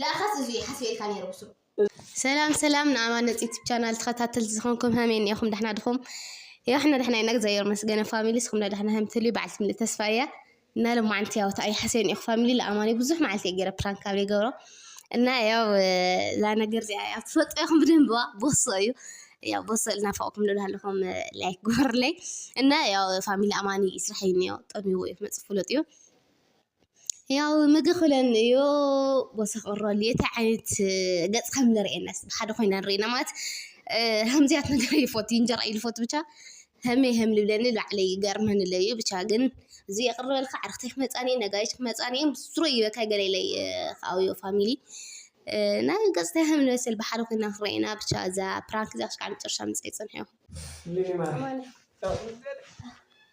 ለኣኸስ እዙይ እየ ሓስበ ኢልካ ነይረ ብሱሩ። ሰላም ሰላም ንኣማነጽ ዩቱብ ቻናል ተኸታተልቲ ዝኾንኩም ሀመይ ኒኤኹም ዳሕና ድኹም የዋሕና ዳሕና ኢና እግዚኣብሔር መስገነ ፋሚሊ ስኹም ዳሕና ሀም ትልዩ በዓልቲ ምልእ ተስፋ እያ እና ለማዓንቲ ያው ተኣይ ሐሰይ ኒኤኹ ፋሚሊ ለኣማኒ ብዙሕ መዓልቲ እየ ገይረ ፕራንክ ካብ ዘይገብሮ እና ያው እዛ ነገር እዚኣ ያው ትፈልጦ ኢኹም ብደንብዋ ቦሶ እዩ ያው ቦሶ ልናፈቕኩም ልብሃለኹም ላይክ ግበሩለይ እና ያው ፋሚሊ ኣማኒ ይስራሕ እዩ ኒኦ ጠሚዎ እዩ ክመፅእ ፍሉጥ እዩ ያው ምግብ ክብለን እዩ ወሰኽ ኦሮኒ እንታይ ዓይነት ገፅ ከም እነርእየና እስቲ ብሓደ ኮይና ንርእይ እና ማለት ከምዚ ዓይነት ነገር ይፈቱ እንጀራ እዩ ዝፈቱ ብቻ ከመይ ከም ዝብለኒ ባዕለይ ይገርመኒ ኣሎ እዩ ብቻ ግን እዚ የቅርበልካ ኣዕርክተይ ክመፃኒ እየን ነጋሪት ክመፃኒ እየን ስሩዕ እዩ በቃ ገለ ኢለይ ከኣብዮ ፋሚሊ እና ገፅታይ ከም ዝመስል ብሓደ ኮይና ክንርእይ ኢና ብቻ እዛ ፕራንክ እዚኣ ክሳዕ መጨረሻ ምፅኣይ ፅንሑ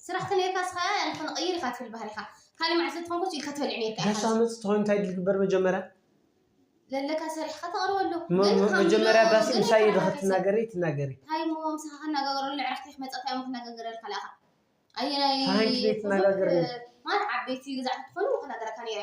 ስራሕ ተነይርካ ስኻ ያለ ክንቕይር ኢኻ ትብል ባህሪኻ ካልእ መዓልቲ ተኾንኩስ ኢልካ ተበሊዑ ነይርካ ኢኻ። ጋሻ መጽ ትኾይኑ እንታይ ድል ግበር መጀመርያ ዘለካ ሰሪሕካ ተቕርበሉ መጀመርያ ባሲ ምሳይ ኢድ ክትናገሪ ትናገሪ ታይ ሞ ምሳኻ ከናጋገረሉ ዕራፍቲ ክመጻ ታይ ሞ ክናጋገረልካ ለኣኻ ኣየናይ ትናጋገሪ ማለት ዓበይቲ ግዛዕቲ ትኾኑ ከናገረካ ነይረ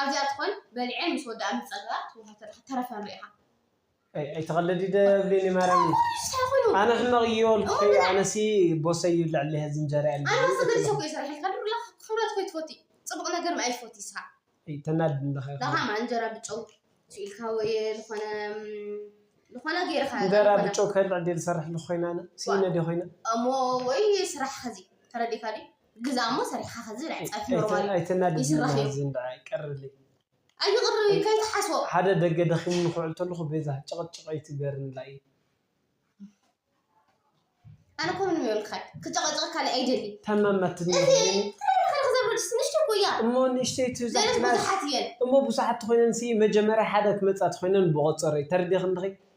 ኣዚኣ ትኾን በሊዐ ምስ ወዳኣ ምስ ጸገባ ትወሃብ ተረፈ ሪኢኻ። ኣይ ኣይትቐልዲ ደብሊኒ ማርያም ኣነ ሕመቕ እዮ ልክፈይ ኣነሲ ቦሰይ ይብልዕ ኣለይ ሀዚ እንጀራ እየ ኣነ ሰገድ ሰኩ እየ ሰሪሐልካ ድሩላ ክብረት ኮይ ትፈቲ ጽቡቕ ነገር ምኣይ ትፈቲ ስኻ ተናድድ ኣለኻ ዳኻ ማ እንጀራ ብጨው ስኢልካ ወይ ዝኾነ ዝኾነ ገይርካ እንጀራ ብጨው ከልዕ ድየ ዝሰርሕ ኣለኹ ኮይነ ኣነ ስኢነ ድየ ኮይነ እሞ ወይ ስራሕ ሀዚ ተረዲካ ድዩ ግዛሞ ሰሪሕካ ከዚ ብልዕ ፀብሒ ኖርማል እዩ ኣይተናድድኒ ይስራሕ እዩ ማሃዚን ደኣ ይቀርልይ ኣይቕርብ እዩ ከይትሓስቦ ሓደ ደገ ደኺሙኒ ክውዕል ተለኹ ቤዛ ጭቕጭቕ ኣይትግበርንላይ ኣነ እኮ ምንም የብልካን ክጨቐጨቐካ እኔ ኣይደልይ ታማማትኒ እቲ ኮይነኒ ተረረኸረኽ ዘብረድስ ንእሽተይ እኮ እያ እሞ ንእሽተይ እቲ ገለ ዛሕቲ ናት ብዙሓት እየን እሞ ብዙሓት ተኾይነን ሲ መጀመርያ ሓደ ክመፃ ተኾይነን ብቖፀረይ ተረዲኽኒ ዲኺ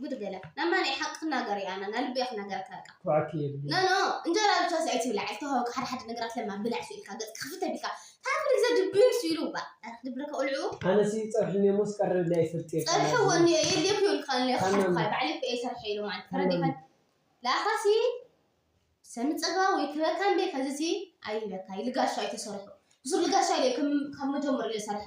ጉድ ገለ ናማ ናይ ሓቂ ክናገር እያ ና ልበይ ክናገር ክበቃ ኩዓኪ የድልዩ ኖኖ እንጀራ ብቻ ስዒ ትብላ ዕልቲ ሃውካ ሓደ ሓደ ነገራት ለማ ብላዕ ሱ ኢልካ ገጽ ክፍት ቢልካ ታን ኩሉ ግዜ ድብር ሱ ኢሉ ባ ክድብረካ ቆልዑ ኣነሲ ጸብሒ እኒኦ ሞስ ቀርብኒ ኣይፈልጥ እየ ጸብሒ ቃና ወኒ ዝብል የድልዮ ክብልካ ኣሎ ታን ክሓድካ ማሚ ባዕለይ እኮ እየ ሰርሐ ኢሉ ማለት ታን ተረዲካ ማሚ ላካሲ ሰሚ ጸጋ ወይ ክበካ እንዴ ከዚሲ ኣይበካ ልጋሻ ኣይተሰርሑ ብሱር ልጋሻ ኢለ ከም ካብ መጀመሩ ኢለ ሰርሐ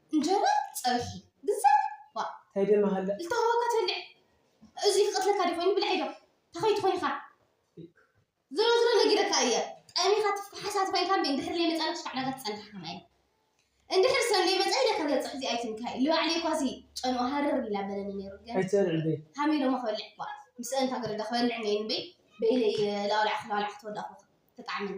እንጀራ ፀብሒ ግዛዕ ዋእ እንታይ ደም ሃለ ዝተሃወካ ትበልዕ እዙይ ክቀትለካ ዲ ኮይኑ ብልዕ ዶ ተኸይ ትኾን ኢኻ ዝሮ ዝሮ ነጊረካ እየ ጠሚኻ ትፍሓሳ ትኾይንካ እምበይ እንድሕር ዘይመፃና ሽፋዕ ናጋ ትፀንሓካ ማይ እንድሕር ሰብ ዘይመፃ ኢለ ከበፅሕ እዚኣ ይትንካ እዩ ልባዕለይ እኳ ሲ ጨንኦ ሃርር ኢላ በለኒ ነይሩ ግን ኣይትበልዕ በይ ሃሚሎሞ ክበልዕ እኳ ምስ እንታ ገረዳ ክበልዕ ነይሩ እምበይ በይለይ ላውላዕ ክላውላዕ ክትወዳኹ ተጣዕመኒ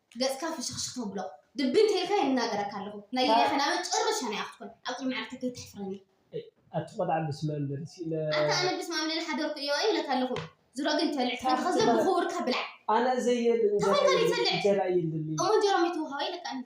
ገጽካ ፍሽኽሽኽ ተብሎ ድብን ተይልካ ይናገረካ ኣለኹ ናይ ታ- ጌጋኻ ናብ መጨረሻ ናይ ኣኽትኮን ኣብ ቅድሚ ዓርክተይ ከይተሕፍረኒ ኣቲ ቆልዓ ብስመ እንበል እስኪ ለ ኣታ ኣነ ብስመ ኣብ ልል ሓደርኩ ኢዮ ኢለካ ኣለኹ ዝሮ ግን ተብልዕ ታኽ ተኾንካ ዘይ ትበል- ብኽቡርካ ብላዕ ኣነ ዘየል እንጀራ ተኾንካ የለን ዘይተልዕ እንጀራ የለን እሞ እንጀራ እሞ ይትውሃቦ ኢለካ እንዳ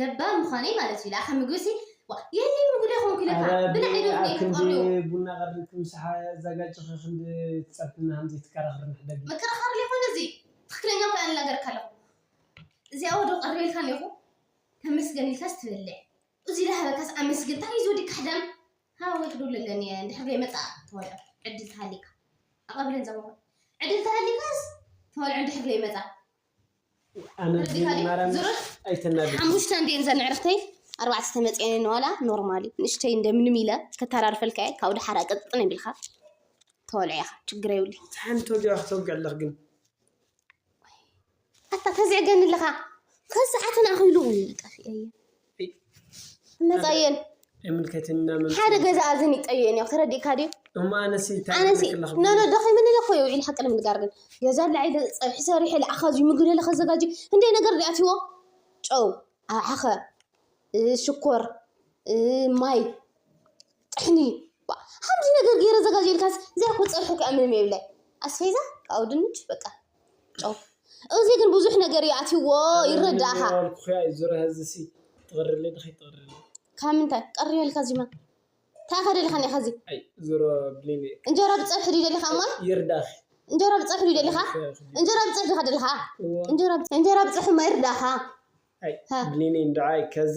ለባም ምዃነይ ማለት እዩ ለኣኸ ምግቢ ሲ ዋእ የእለይ ምግቢ ዶ ኣይኮንኩ ኢለ እረ ከኣ ብልዕ ዶ ብልዕኣ ኢለ ክንዲ ክቐርዮ። ቡና ቀሪብኪ ምሳሓ ኣዛጋጅኺ ክንዲ ትጸርፊልና ሃም ዘይትከራኸሪ ንሕደጊ። ምክርኻር ለይኮነ እዚ ትኽክለኛ እኮ እየ ኣናገረካ ኣለኹ እዚኣ ወዶ ቀሪበልካ ኔርኹ ተመስገን ኢልካስ ትበልዕ እዙይ ለሃበካስ ኣመስግን ታይ እዩ እዚ ወዲ ካሕዳም ሃወወይ ክድውሎ ኣለኒ እየ እንድሕር ለይመጸኣ ትበልዖ ዕድል ተሃሊካ ኣቐብለን ዛሞኾይ ዕድል ተሃሊካስ ትበልዖ እንድሕር ለይመጸኣ ሓሙሽተ እንዲየን ዘን ዕርክተይ ኣርባዕተ ዝተመፅኤን እየን ዋላ ኖርማል እዩ ንእሽተይ እንደምንም ኢለ ከተራርፈልካ እየ ካብኡ ድሓር ኣቀጥጥን የብልካ ተወልዐ ኢኻ ችግር የብሉ ሓንቲ ወዲያ ክትወግዕ ኣለኽ ግን ኣታ ተዝዕገኒ ኣለኻ ከሰዓትን ኣኺሉ ጠፊኤ እየ እነፀየን ሓደ ገዛ እዝን ይጠየን እዮ ተረዲእካ ድዩ ኣነሲ ኖኖ ደኺምኒ እለ ኮዮ ኢል ሓቂ ንምንጋር ግን ገዛ ላዒ ፀብሒ ሰሪሐ ልኣኻዚ ምግቢ ለለ ከዘጋጅ ክንደይ ነገር ድኣትዎ ጨው ኣሓኸ ሽኮር ማይ ጥሕኒ ሓምዚ ነገር ገይረ ዘጋጀ ኢልካስ ዘይኮ ፀብሒ ክኣ ምንም የብለ ኣስፌዛ ካኡ ድንች በቃ ጨው እዚ ግን ብዙሕ ነገር እዩ ኣትይዎ ይረዳእኻ ዝበልኩኺ እዩ ዙርያ እዚሲ ትቕርሊ ድኺ ትቕርሊ ካብ ምንታይ ቀሪ በልካ እዚማ እንታይ ኢኻ ደሊኻ እኒኻ እዚ ኣይ ዙሮ ብሊኒ እንጀራ ብፀብሒ ድዩ ደሊኻ እሞ ይርዳኺ እንጀራ ብፀብሒ ድዩ ደሊኻ እንጀራ ብፀብሒ ዲኻ ደሊኻ እዎ እንጀራ ብፀ- እንጀራ ብፀብሒ እሞ ይርዳእኻ ኣይ ሃ። ብሊኒ እንድዓይ ከዚ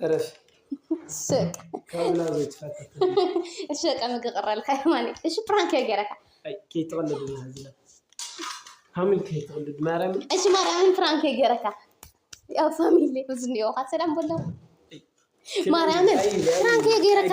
እረፊ ስቅ ካብላ ዘይትፈትት እሺ በቃ ምግቢ ቀረልካ የማኒ እሺ ፕራንክ እየ ገይረካ ኣይ ከይትቕልድ ኢና ዝለ ፋሚሊ ከይትቕልድ ማርያም እሺ ማርያምን ፕራንክ እየ ገይረካ ያው ፋሚሊ ብዙ እኒኦ ካብ ሰላም በሎ ማርያምን ፕራንክ እየ ገይረካ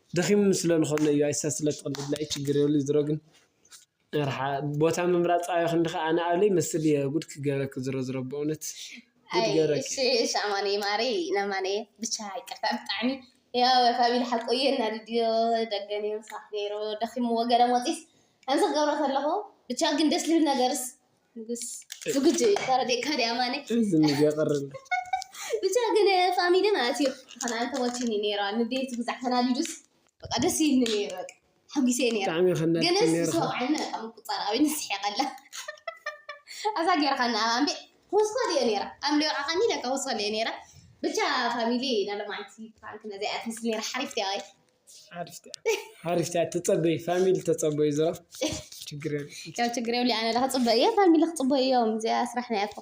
ደኺሙ ስለ ንኸሎ እዩ ኣይሰ ስለ ትቕልድ ናይ ችግር የብሉ ዝሮ ግን ርሓ ቦታ ምምራጽ ኣዮ ክንድኸ ኣነ ኣብለይ መስል እየ ጉድ ክገበክ ዝሮ ዝሮ በእውነት ጉድ ገበክ እሺ ኣማን ማሪ ናማን ብቻ ይቅርታ ብጣዕሚ ያው ካቢል ሓቁ እየ እናድድዮ ደገን እየ ምሳኽ ገይሮ ደኺምዎ ገለ ሞጺስ ከምዚ ክገብሮ ከለኹ ብቻ ግን ደስ ልብል ነገርስ ንጉስ ዝግጁ እዩ ተረዲእካ ዲ ኣማኒ እዚ ንገቕርብ ብቻ ግን ፋሚሊ ማለት እዩ ዝኾነ ኣንተሞችኒ ነይራ ንዴት ብዛዕ ተናዲዱስ በቃ ደስ ይልኒ ነይሩ በቃ ሓጒሰ እየ ነይራ ብጣዕሚ ከናድድ ግንስ ነይርካ ዝሰወዓኒ በቃ ምቁፃር ኣብኒ ስሒቐላ ኣዛ ገይርካና ኣብ ኣምቤ ኮስኮል እየ ነይራ ኣምሌ ወዓኻኒ ለካ ኮስኮል እየ ነይራ ብቻ ፋሚሊ ናሎማዓንቲ ፕራንክ ነዚኣ ትመስል ነይራ ሓሪፍ ዲያ ወይ ሓሪፍቲያ ተፀበይ ፋሚሊ ተፀበይ ዝራ ችግር ያው ችግር የብሉ ኣነ ክፅበ እየ ፋሚሊ ክፅበ እዮም እዚኣ ስራሕ ናይ ኣኮ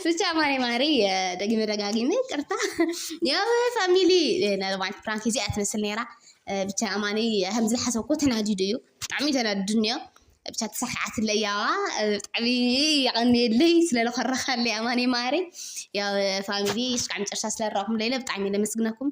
ብቻ ማሪ ማሪ ደጊመ ደጋጊመ ቅርታ ያው ፋሚሊ ናለማት ፕራንክ እዚኣ ትመስል ነይራ ብቻ ኣማኒ ከምዚ ዝሓሰብኩ ተናዲዱ እዩ ብጣዕሚ ተናዲዱ እኒኦ ብቻ ተሳክዓትለይ ያዋ ብጣዕሚ የቐንየለይ ስለለኮረኻለይ ኣማኒ ማሪ ያው ፋሚሊ እስካዕ መጨረሻ ስለረኣኹም ለይለ ብጣዕሚ ለመስግነኩም